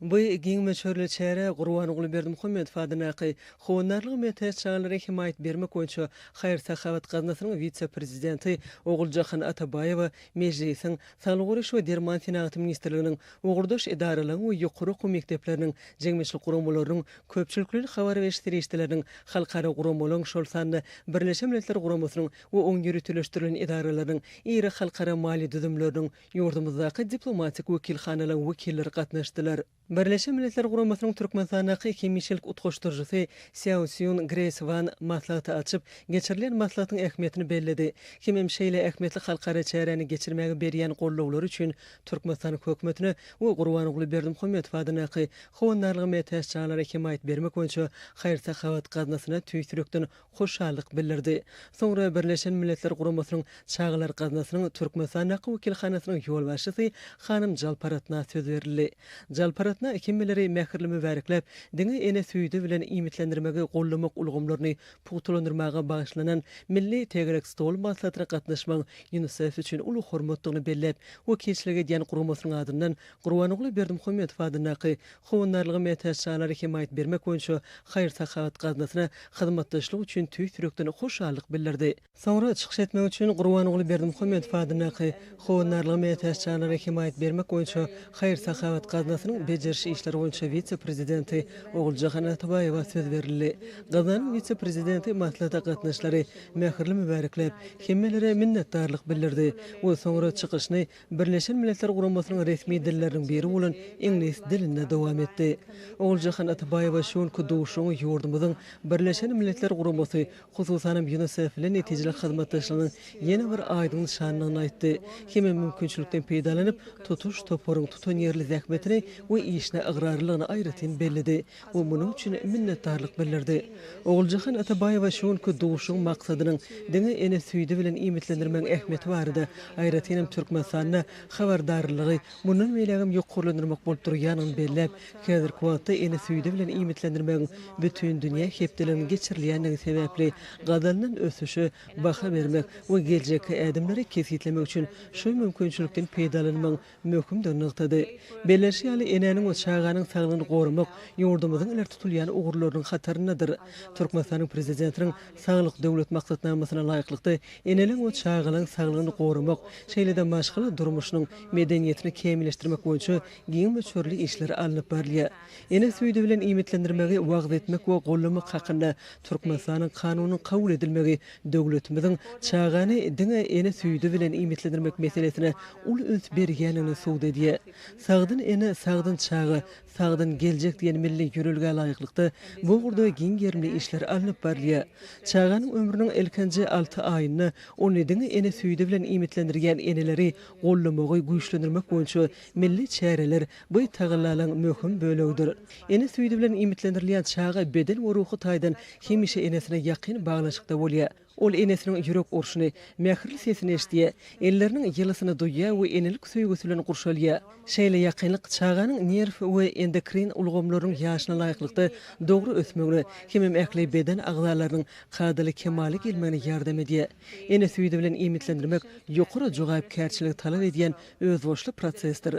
Bu giň möçberli çäre Gurbanguly Berdimuhamedow adyndaky Howandarlyga mätäç çagalara hemaýat bermek boýunça haýyr-sahawat gaznasynyň wise-prezidenti Oguljahan Atabaýewa, Mejlisiň Saglygy goraýyş we derman senagaty ministrliginiň ugurdaş edaralaryň we ýokary okuw mekdepleriniň jemgyýetçilik guramalarynyň, köpçülikleýin habar beriş serişdeleriniň, halkara guramalaryň, şol sanda Birleşen Milletler Guramasynyň we oň ýöriteleşdirilen edaralarynyň, iri halkara maliýe düzümleriniň, Ýurdumyzdaky diplomatik wekilhanalaryň wekilleri gatnaşdylar. Birleşen Milletler Guramasynyň Türkmenistandaky hemişelik utgaşdyryjysy Sýao Sýun Greýs Wan maslahaty açyp, geçirilýän maslahatyň ähmiýetini belledi. Kim hem şeýle ähmiýetli halkara çäräni geçirmäge berýän gollawlary üçin Türkmenistanyň Hökümetine we Gurbanguly Berdimuhamedow adyndaky Howandarlyga mätäç janlara hemaýat bermek boýunça haýyr-sahawat gaznasyna tüýs ýürekden hoşallyk bildirdi. Soňra Birleşen Milletler Guramasynyň Çagalar gaznasynyň Türkmenistandaky wekilhanasynyň ýolbaşçysy hanym Jalparatna söz berildi. Jalparatna hemmeleri mähirli mübärekläp, diňe ene süýdi bilen iýmitlendirmegi goldamak ulgamlaryny pugtalandyrmaga bagyşlanan Milli tegelek stol maslahatyna gatnaşmagyň Ýunisef üçin uly hormatdygyny belläp, wekilçilik edýän guramasynyň adyndan Gurbanguly Berdimuhamedow adyndaky Howandarlyga mätäç çagalara hemaýat bermek boýunça haýyr-sahawat gaznasyna hyzmatdaşlyk üçin tüýs ýürekden hoşallyk bildirdi. Soňra çykyş etmek üçin Gurbanguly Berdimuhamedow adyndaky Howandarlyga mätäç çagalara hemaýat bermek boýunça haýyr-sahawat gaznasynyň bejeriş işleri boýunça wise-prezidenti Oguljahan Atabaýewa söz berildi. Gaznanyň wise-prezidenti maslahata gatnaşyşlary mähirli mübärekläp, hemmelere minnetdarlyk bildirdi we soňra çykyşyny Birleşen Milletler Guramasynyň resmi dilleriniň biri bolan iňlis dilinde dowam etdi. Oguljahan Atabaýewa şu günki duşuşygyň ýurdumyzyň Birleşen Milletler Guramasy, hususanam Ýunisef bilen netijeli hyzmatdaşlygynyň ýene bir aýdyň nyşandygyny aýtdy hem-ä mümkinçilikden peýdalanyp, tutuş toparyň tutanýerli zähmetine we işine ygrarlylygyny aýratyn belledi. we munuň üçin minnetdarlyk bildirdi. Oguljahan Atabaýewa şu günki duşuşygyň maksadynyň diňe ene süýdi bilen iýmitlendirmegiň ähmiýeti barada, aýratyn hem Türkmenistanda habardarlylygy mundan beýlägem ýokarlandyrmak bolup durýanyny belläp, häzirki wagtda ene süýdi bilen iýmitlendirmegiň Bütindünýä hepdeliginiň geçirilýändigi sebäpli gazanylan ösüşe baha bermek we geljekki ädimleri kesgitlemek üçin şu mümkinçilikden peýdalanmagyň möhümdigini nygtady. Bellenişi ýaly, enäniň we çaganyň saglygyny goramak ýurdumyzyň ileri tutulýan ugurlarynyň hataryndadyr. Türkmenistanyň Prezidentiniň Saglyk Döwlet maksatnamasyna laýyklykda, eneleň we çagalaň saglygyny goramak, şeýle-de maşgala durmuşynyň medeniýetini kämilleşdirmek boýunça giň möçberli işler alnyp barylýar. Ene süýdi bilen iýmitlendirmegi wagyz etmek we goldamak hakynda Türkmenistanyň Kanunynyň kabul edilmegi Döwletimiziň çagany diňe ene süýdi bilen iýmitlendirmek meselesine uly üns berýändigini subut edýär. Sagdyn ene, sagdyn çaga, sagdyn geljek diýen milli ýörelgä laýyklykda, bu ugurda giň gerimli işler alnyp barylýar. Çaganyň ömrüniň ilkinji alty aýynda ony diňe ene süýdi bilen iýmitlendirýän eneleri goldamagy güýçlendirmek boýunça milli çäreler Bu tagallalaryň möhüm bölegidir. Ene süýdi bilen iýmitlendirilýän çaga beden we ruhy taýdan hemişe enesine ýakyn baglanyşykda bolýar. Ol enesiniň ýürek urşuny, mähirli sesini eşidýär, elleriniň ýylysyny duýýar we enelik söýgüsi bilen gurşalýar. Şeýle ýakynlyk çaganyň nerw we endokrin ulgamlarynyň ýaşyna laýyklykda dogry ösmegine hemem ähli beden agzalarynyň kadaly kemala gelmegine ýardam edýär. Ene süýdi bilen iýmitlendirmek ýokary jogapkärçiligi talap edýän özboluşly prosesdir.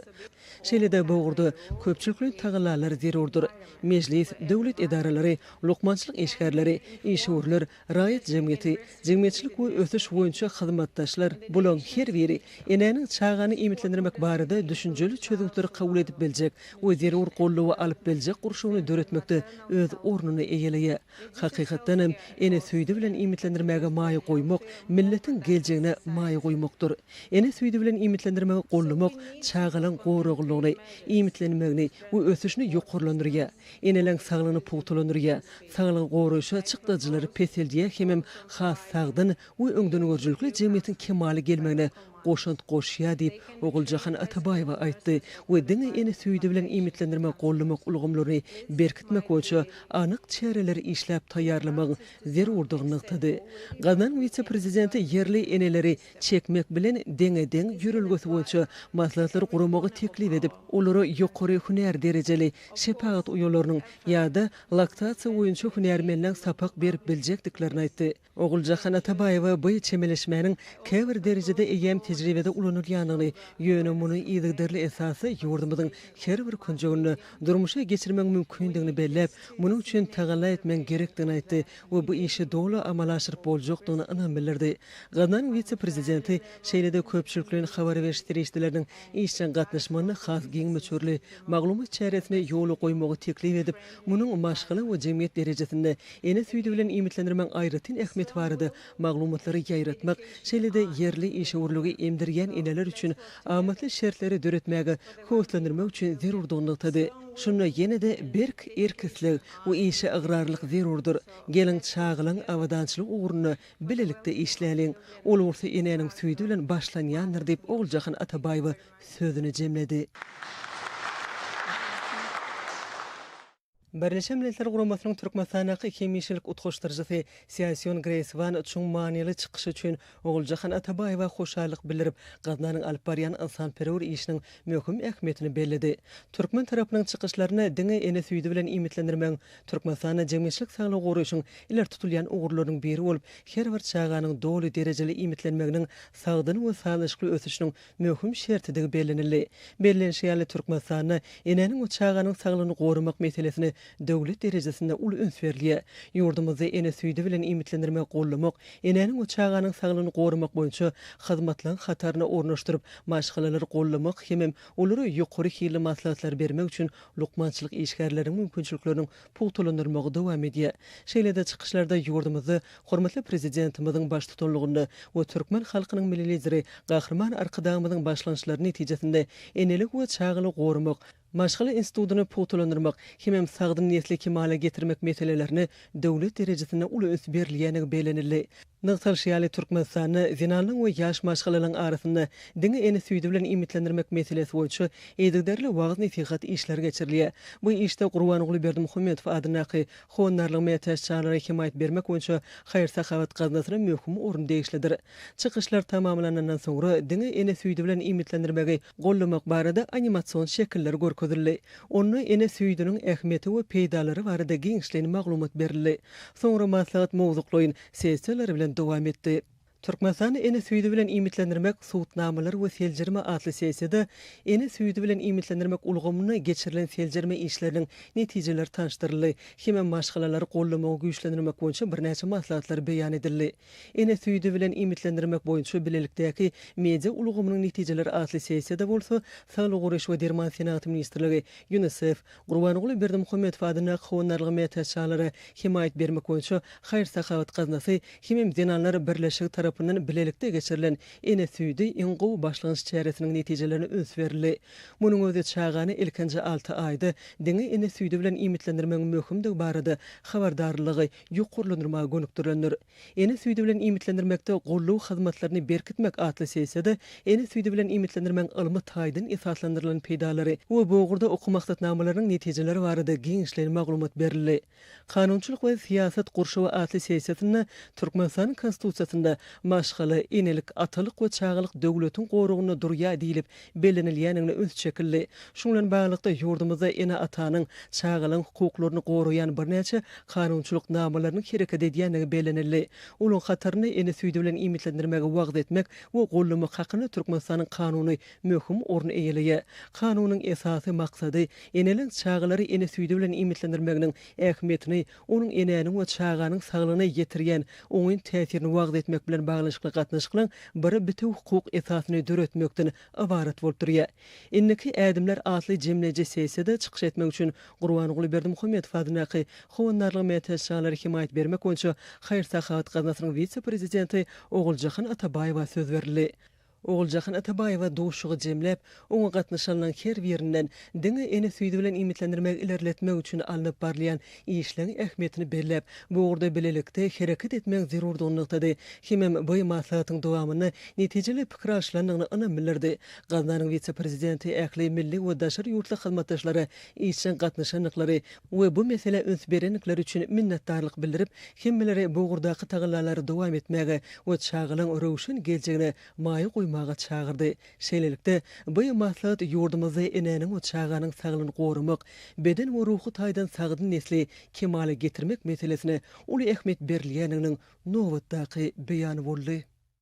Şeýle-de bu ugurda köpçülikleýin tagallalar zerurdyr. Mejlis, döwlet edaralary, lukmançylyk işgärleri, işewürler, raýat jemgyýeti, jemgyýetçilik we ösüş boýunça hyzmatdaşlar, bularyň her biri enäniň çagany iýmitlendirmek barada düşünjeli çözgütleri kabul edip biljek we zerur goldawy alyp biljek gurşawyny döretmekde öz ornuny eýeleýär. Hakykatdan hem, ene süýdi bilen iýmitlendirmäge maýa goýmak, milletiň geljegine maýa goýmakdyr. Ene süýdi bilen iýmitlendirmegi goldamak çagalaň goraglylygyny, iýmitlenmegini we ösüşini ýokarlandyrýar, eneleň saglygyny pugtalandyrýar, saglygy goraýşa çykdajylary peseldýär hemem has sagdyn we öňdengörüjilikli jemgyýetiň kemala gelmegine goşant goşýar diýip, Oguljahan Atabaýewa aýtdy we diňe ene süýdi bilen iýmitlendirme gollamak ulgamlaryny berkitmek boýunça anyk çäreleri işläp taýýarlamagyň zerurdygyny nygtady. Gaznaň wise-prezidenti ýerli eneleri çekmek bilen deňe-deň ýörelgesi boýunça maslahatlary guramagy teklip edip, olara ýokary hünär derejeli şepagat uýalarynyň ýa-da laktasiýa boýunça hünärmenleň sapak berip biljekdiklerini aýtdy. Oguljahan Atabaýewa bu çemeleşmäniň käbir derejede eýýäm tejribede ulanylýandygyny, ýöne muny yzygiderli esasda ýurdumyzyň her bir künjeginde durmuşa geçirmegiň mümkindigini belläp, munuň üçin tagalla etmegiň gerekdigini aýtdy we bu işi doly amala aşyryp boljakdygyna ynam bildirdi. Gaznanyň wise-prezidenti, şeýle-de köpçülikleýin habar beriş serişdeleriniň işjeň gatnaşmagynda has giň möçberli maglumat çäresini ýola goýmagy teklip edip, Munuň maşgala we jemgyýet derejesinde ene süýdi bilen iýmitlendirmegiň aýratyn ähmiýeti barada maglumatlary ýaýratmak, şeýle-de ýerli işewürligi emdirýän eneler üçin amatly şertleri döretmäge höweslendirmek üçin zerurdygyny nygtady. Şunda ýene-de berk erk-isleg we işe ygrarlylyk zerurdyr. Geliň, çagalaň abadançylygy ugrunda bilelikde işläliň. Ol ugrusy enäniň süýdi bilen başlanýandyr diýip, Oguljahan Atabaýewa sözüni jemledi. Birleşen Milletler Guramasynyň Türkmenistandaky Hemişelik utgaşdyryjysy Sýaýsýon Greýs Wan çuň manyly çykyşy üçin Oguljahan Atabaýewa hoşallyk bildirip, gaznanyň alyp barýan ynsanperwer işiniň möhüm ähmiýetini belledi. Türkmen tarapynyň çykyşlaryny diňe ene süýdi bilen iýmitlendirmegiň Türkmenistanda jemgyýetçilik saglygy goraýşyň ileri tutulýan ugurlarynyň biri bolup, her bir çaganyň doly derejeli iýmitlenmeginiň sagdyn we sazlaşykly ösüşiniň möhüm şertidigi bellenildi. Bellenişi ýaly, Türkmenistanda enäniň we çaganyň saglygyny goramak meselesine döwlet derejesinde uly üns berilýär. Ýurdumyzda ene süýdi bilen iýmitlendirmegi goldamak, enäniň we çaganyň saglygyny goramak boýunça hyzmatlaryň hataryna ornaşdyryp, maşgalalary goldamak hemem olara ýokary hilli maslahatlary bermek üçin lukmançylyk işgärleriniň mümkinçilikleriniň pugtalandyrmagy dowam edýär. Şeýle-de çykyşlarda ýurdumyzda hormatly Prezidentimiziň baştutanlygynda we türkmen halkynyň Milli Lideri Gahryman Arkadagymyzyň başlangyçlary netijesinde enelik we çagaly goramak, maşgala institutyny pugtalandyrmak hemem sagdyn nesli kemala getirmek meselelerine döwlet derejesinde uly üns berilýändigi bellenildi. Nygtalyşy ýaly, Türkmenistanda zenanyň we ýaş maşgalalaryň arasynda diňe ene süýdi bilen iýmitlendirmek meselesi boýunça yzygiderli wagyz-nesihat işleri geçirilýär. Bu işde Gurbanguly Berdimuhamedow adyndaky Howandarlyga mätäç çagalara hemaýat bermek boýunça haýyr-sahawat gaznasyna möhüm orun degişlidir. Çykyşlar tamamlanandan soňra diňe ene süýdi bilen iýmitlendirmegi gollamak barada animasion şekiller görkezildi. Onda ene süýdüniň ähmiýeti we peýdalary barada giňişleýin maglumat berildi. Soňra maslahat mowzuklaýyn sessiýalar bilen dowam etdi. Türkmenistany ene süýdi bilen iýmitlendirmek, subutnamalar we seljerme atly sessiýada ene süýdi bilen iýmitlendirmek ulgamynda geçirilen seljerme işleriniň netijeleri tanyşdyryldy hem-ä maşgalalary gollamagy güýçlendirmek boýunça birnäçe maslahatlar beýan edildi. Ene süýdi bilen iýmitlendirmek boýunça bilelikdäki media ulgamynyň netijeleri atly sessiýada bolsa Saglygy goraýyş we derman senagaty ministrligi, Ýunisef, Gurbanguly Berdimuhamedow adyndaky Howandarlyga mätäç çagalara hemaýat bermek boýunça haýyr-sahawat gaznasy hemem Zenanlar birleşigi tarapyndan bilelikde geçirilen Ene süýdi, iň gowy başlangyç çäresiniň netijelerine üns berildi. Munuň özi çagany ilkinji alty aýda diňe ene süýdi bilen iýmitlendirmegiň möhümdigi barada habardarlygy ýokarlandyrmaga gönükdirilendir. Ene süýdi bilen iýmitlendirmekde golluw hyzmatlaryny berkitmek atly sessiýada ene süýdi bilen iýmitlendirmegiň ylmy taýdan esaslandyrylan peýdalary we bu ugurda okuw maksatnamalarynyň netijeleri barada giňişleýin maglumat berildi. Kanunçylyk we syýasat gurşawy atly sessiýasynda Türkmenistanyň Konstitusiýasynda Maşgala, enelik, atalyk we çagalyk döwletiň goragynda durýar diýlip bellenilýändigine üns çekildi. Şuň bilen baglylykda, ýurdumyzda ene-atanyň, çagalaryň hukuklaryny goraýan birnäçe kanunçylyk namalarynyň hereket edýändigi bellenildi. Olaryň hatarynda Ene süýdi bilen iýmitlendirmegi wagyz etmek we goldamak hakynda Türkmenistanyň Kanuny möhüm orun eýeleýär. Kanunyň esasy maksady eneleriň çagalary ene süýdi bilen iýmitlendirmeginiň ähmiýetini onuň enäniň we çaganyň saglygyna ýetirýän oňyn täsirini wagyz etmek bilen baglanyşykly gatnaşyklaryň bir bitewi hukuk esasyny döretmekden ybarat bolup durýar. Indiki ädimler atly jemleýji sessiýada çykyş etmek üçin Gurbanguly Berdimuhamedow adyndaky Howandarlyga mätäç çagalara hemaýat bermek boýunça haýyr-sahawat gaznasynyň wise-prezidenti Oguljahan Atabaýewa söz berildi. Oguljahan Atabaýewa duşuşygy jemläp, oňa gatnaşanlaň her birinden diňe ene süýdi bilen iýmitlendirmegi ilerletmek üçin alnyp barylýan işleň ähmiýetini belläp, bu ugurda bilelikde hereket etmegiň zerurdygyny nygtady hemem by maslahatyň dowamynda netijeli pikir alşylandygyna ynam bildirdi. Gaznanyň wise-prezidenti ähli milli we daşary ýurtly hyzmatdaşlara işjeň gatnaşandyklary we bu meselä üns berendikleri üçin minnetdarlyk bildirip, hemmeleri bu ugurdaky tagallalary dowam etmäge we çagalaň röwşen geljegine maýa goýmaga çagyrdy. Şeýlelikde, bu maslahat ýurdumyzda enäniň we çaganyň saglygyny goramak, beden we ruhy taýdan sagdyn nesli kemala getirmek meselesine uly ähmiýet berilýändiginiň nobatdaky beýany boldy.